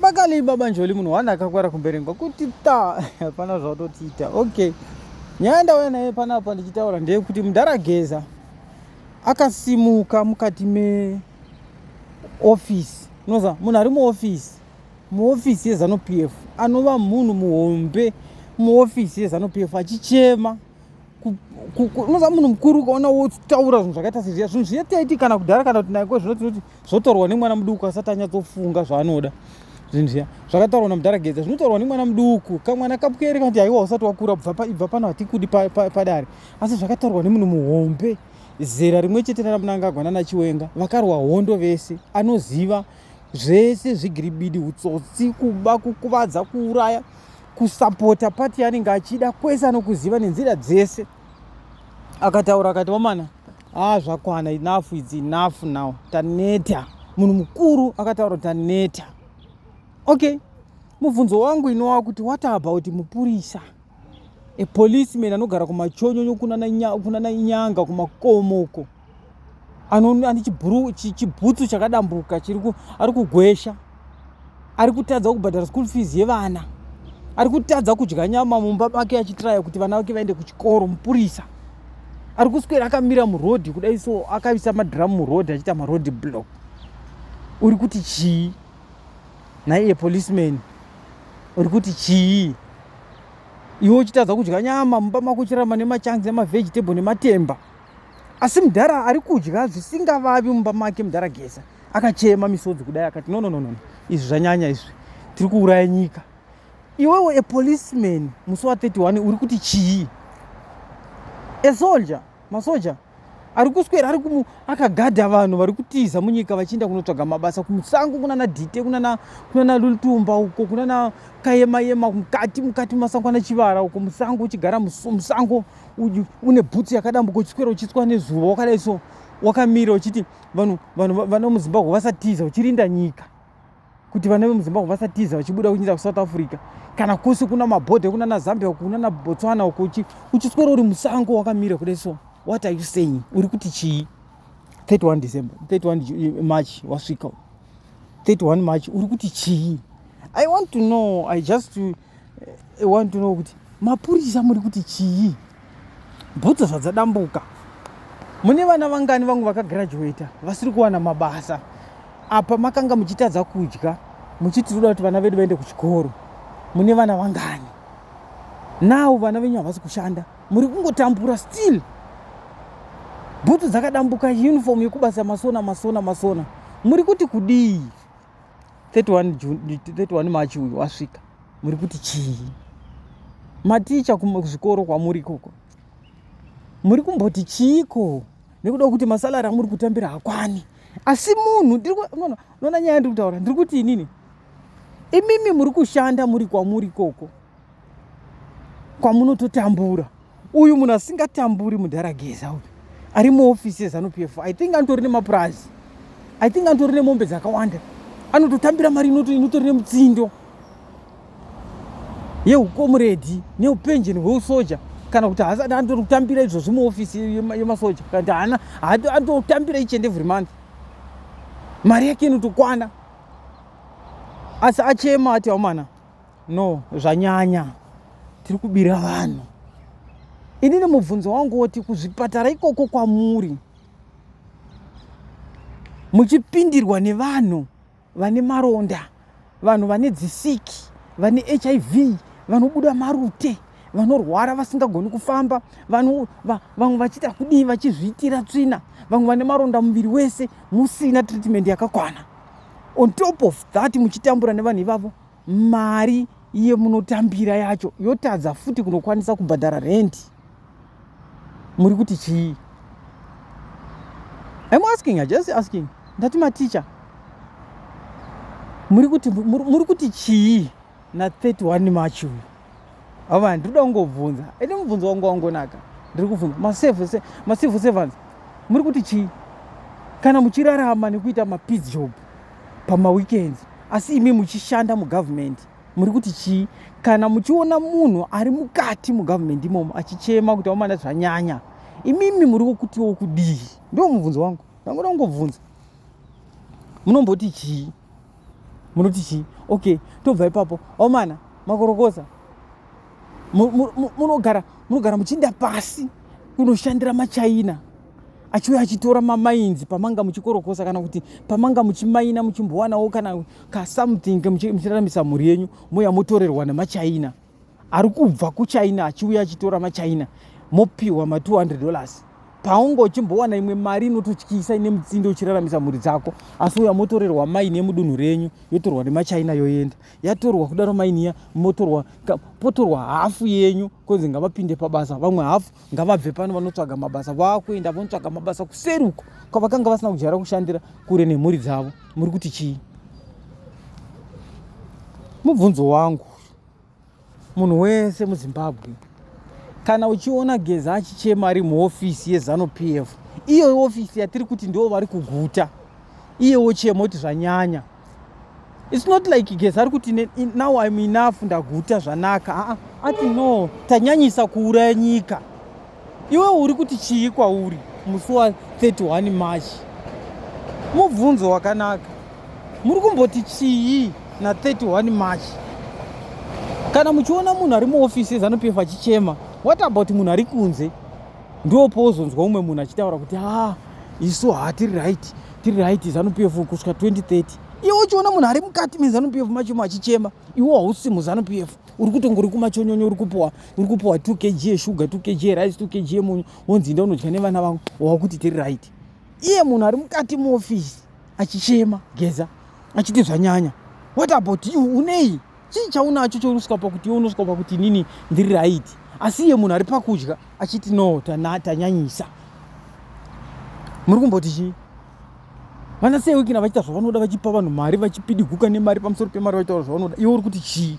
Makali baba Njoli munhu one akakwara kumberengwa kuti ta hapana zvautotiita. Okay. Nyaya ndauya naye panapa ndichitaura ndeyekuti mudhara Geza akasimuka mukati me office. Unoza munhu ari muoffice. Muoffice yeZanu PF anova munhu muhombe muoffice yeZanu PF achichema unoza munhu mukuru ukaona wotaura zvinhu zvakaita sezviya zvinhu zviya taiti kana kudhara kana kuti naiko zvino tinoti zvotaurwa nemwana muduku asati anyatsofunga zvaanoda zvinhu zviya zvakataurwa namudhara gedza zvinotaurwa nemwana muduku kamwana kapwere kanoti haiwa usati wakura bva pano hatikudi padare asi zvakataurwa nemunhu muhombe zera rimwe chete ranamunangagwa nanachiwenga vakarwa hondo vese anoziva zvese zvigiribidi utsotsi kuba kukuvadza kuuraya kusapota pati yanenge achida kwese anokuziva nenzira dzese akataura akati vamana haa zvakwana enough its enough now taneta munhu mukuru akataura kuti taneta okay mubvunzo wangu inowa kuti what about mupurisa a policeman anogara kumachonyonyo kunana nyanga kumakomoko ane chibhutsu chakadambuka ari kugwesha ari kutadza kubhadhara school fees yevana ari kutadza kudya nyama mumba make achitiraya kuti vana vake vaende kuchikoro mupurisa ari kuswera akamira murodhi kudai so akavisa madhiramu murodhi achiita marodhi block uri kuti chii naiye policeman uri kuti chii iwe uchitadza kudya nyama mumba mako uchirama nemachanzi emavegetable nematemba asi mudhara ari kudya zvisingavavi mumba make mudhara gesa akachema misodzi kudai akati no no no no izvi zvanyanya izvi tiri kuuraya nyika iwewe a policeman musi wa 31 uri kuti chii a soldier masoja ari kuswera ari kumu akagadha vanhu vari kutiza munyika vachienda kunotsvaga mabasa kumusango kunana dite kunana kunana lutumba uko kunana kayema yema mukati mukati mumasango ana chivara uko musango uchigara musango une bhutsu yakadambuka uchiswera uchitswa nezuva wakadai so wakamira uchiti vanhu vanhu vana muzimbabwe vasatiza uchirinda nyika kuti vana vemuzimbabwe vasatiza vachibuda kunyinda kusouth africa kana kose kuna mabhodha kunana zambia kunana botswana uko uchiswera uri musango wakamira kudai so what are you saying uri kuti chii 31 december 31 march wasvika 31 march uri kuti chii i want to know i just to I want to know kuti mapurisa muri kuti chii? Bhutsu zvadzadambuka. Mune vana vangani vangu vakagraduata vasiri kuwana mabasa. Apa makanga muchitadza kudya muchiti toda kuti vana vedu vaende kuchikoro. Mune vana vangani? Now vana venyu havasi kushanda. Muri kungotambura still. Bhutsu dzakadambuka uniform yekubasa masona masona masona. Muri kuti kudii? 31 June 31 March uyu wasvika muri kuti chii maticha kuzvikoro kwamuri ikoko muri kumboti chiiko nekuda kwekuti masalari amuri kutambira hakwani asi munhu unoona nyaya ndiri kutaura ndiri kuti inini imimi muri kushanda muri kwamuri ikoko kwamunototambura uyu munhu asingatamburi mudharageza uyu ari muofisi yezanu p f i think anotori nemapurazi i think anotori nemombe dzakawanda anototambira mari inotori nemutsindo yeukomuredi neupenjeni hweusoja kana kuti haasati anotori kutambira izvozvi muofisi yemasoja kana kuti haana anototambira each and every month mari yake inotokwana asi achema ati aumana No, zvanyanya tiri kubira vanhu. Ini nemubvunzo wangu woti kuzvipatara ikoko kwamuri muchipindirwa nevanhu vane maronda, vanhu vane dzisiki, vane HIV, vanobuda marute, vanorwara vasingagoni kufamba, vamwe va, va, vachiita kudii vachizviitira tsvina, vamwe vane maronda muviri wese musina treatment yakakwana. On top of that muchitambura nevanhu ivavo mari yemunotambira yacho yotadza futi kunokwanisa kubhadhara rendi muri kuti chii im asking just asking ndati maticha muri kuti chii na 31 march uyu avo vanhu ndiri kuda kungobvunza ende mubvunzo wangu wangonaka ndiri kubvunza macivil servants muri kuti chii kana muchirarama nekuita mapeace job pamaweekends asi imi muchishanda mugovernment muri kuti chii kana muchiona munhu ari mukati mugovernment imomo achichema kuti amana zvanyanya imimi muri kukutiwo kudii ndo mubvunzo wangu ndangoda kungobvunza munomboti chii munoti chii okay tobva ipapo omana makorokoza munogara munogara muchiinda pasi kunoshandira machaina achiuya achitora mamainzi pamanga muchikorokosa kana kuti pamanga muchimaina muchimbowanawo kana kasomething muchiraramisa mhuri yenyu mouya motorerwa nemachaina ari kubva kuchina achiuya achitora machina mopiwa ma200 dollars paunga uchimbowana imwe mari inototyisa ine mutsindo uchiraramisa mhuri dzako asi uya motorerwa maini yemudunhu renyu yotorwa nemachina yoenda yatorwa kudaro mainiya motorwa potorwa hafu yenyu konzi ngavapinde pabasa vamwe hafu ngavabve pano vanotsvaga mabasa vakuenda vanotsvaga mabasa kuseri uko kwavakanga vasina kujara kushandira kure nemhuri dzavo muri kuti chii mubvunzo wangu Munhu wese muZimbabwe kana uchiona Geza achichema ari muhofisi yeZanu PF, iyo hofisi yatiri kuti ndiwo vari kuguta, iye wochema kuti zvanyanya. It's not like Geza ari kuti now I'm enough ndaguta zvanaka. Haa, ati no, tanyanyisa kuuraya nyika. Iwe uri kuti chii kwauri musi wa 31 March? Mubvunzo wakanaka. Muri kumboti chii na 31 March? Kana muchiona munhu ari muofisi yeZanu PF achichema, what about munhu ari kunze? Ndiwo pozonzwa umwe munhu achitaura kuti ah, isu hatiri right, tiri right Zanu PF kusvika 2030. Iwe uchiona munhu ari mukati meZanu PF macho machichema, iwe hausi muZanu PF. uri kutongo uri kumachonyonyo uri kupuwa uri kupuwa 2 kg yeshuga 2 kg yerice 2 kg yemunyu wonzi inda unodya nevana vangu wakuti tiri right iye munhu ari mukati muofisi achichema geza achiti zvanyanya what about you unei chii chaunacho chaunosvika pakuti unosvika pakuti nini ndiri right asi iye munhu ari pakudya achiti no tanyanyisa muri kumboti chii vana seiwikina vachiita zvavanoda vachipa vanhu mari vachipidiguka nemari pamusoro pemari vaitaura zvavanoda iwe uri kuti chii